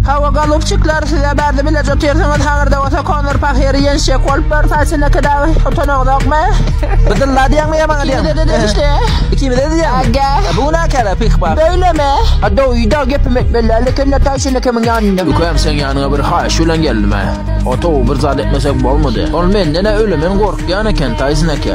Hawa golubçikler size bärde bileje otyrsyňyz haňyrda bolsa Konor pahyry ýenşjek bolup bar saçyndaky dagy utanaňyzokmy. Bydyn la diýäňmi ýa maňa diýäňmi. Ikimize-de degişli. Ikimize-de diýäňmi. Aga. Bu günäkärä pih bar. Beýlemi? A doýy dag gepimi etmeli däl ekende taý şeýle kimiň ýanynda. Ükem seň ýanyňa bir haýyş bilen geldim-ä. Oto bir zat etmesek bolmady. Ol menden-ä ölemen gorkýan eken Taýson eke.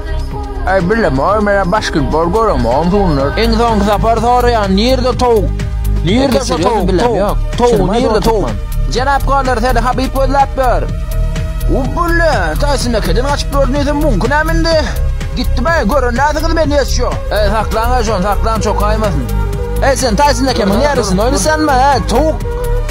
Ay birleme oy mena basketbol görem on sunlar. Iň soňky sapar soraýan nirde towuk? Nirde şu towuk? Towuk. Towuk nirde towuk? Jenap Konor seni Habib gözläp ýör. Ubbulle, Tyson ekeden gaçyp gördü diýsem muňky näme indi? Gitdi be, gören näsiňiz men ýes şu. Ey saklaň aýşon, saklaň çokaýmasyn. Ey sen Tyson ekemiň ýarysyny oýnasanma, ey towuk.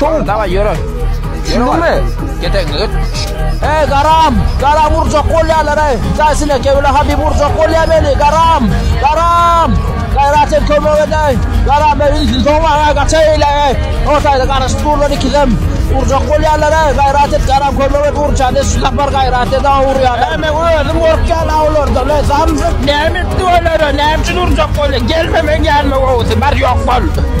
Dur. Daway ýöre. Düşündüňmi? Getegini git. Ey garam, garam urjak bolýarlar ey. Jaýsyna kewle hadi urjak bolýar meni, garam. Garam. Gaýrat et kömek edäý. Garam ben ünsün soňma ha gaçaýla ey. Ortaýda garaşyp durlar ikizem. Urjak bolýarlar ey. Gaýrat et garam kömek et urjan et şu sapar gaýrat et aw urýarlar. Men özüm gorkýan awlarda. Ne zamjyk, ne etdi olara, ne üçin urjak bolýar. Gelme men gelme owsy, bar ýok bol.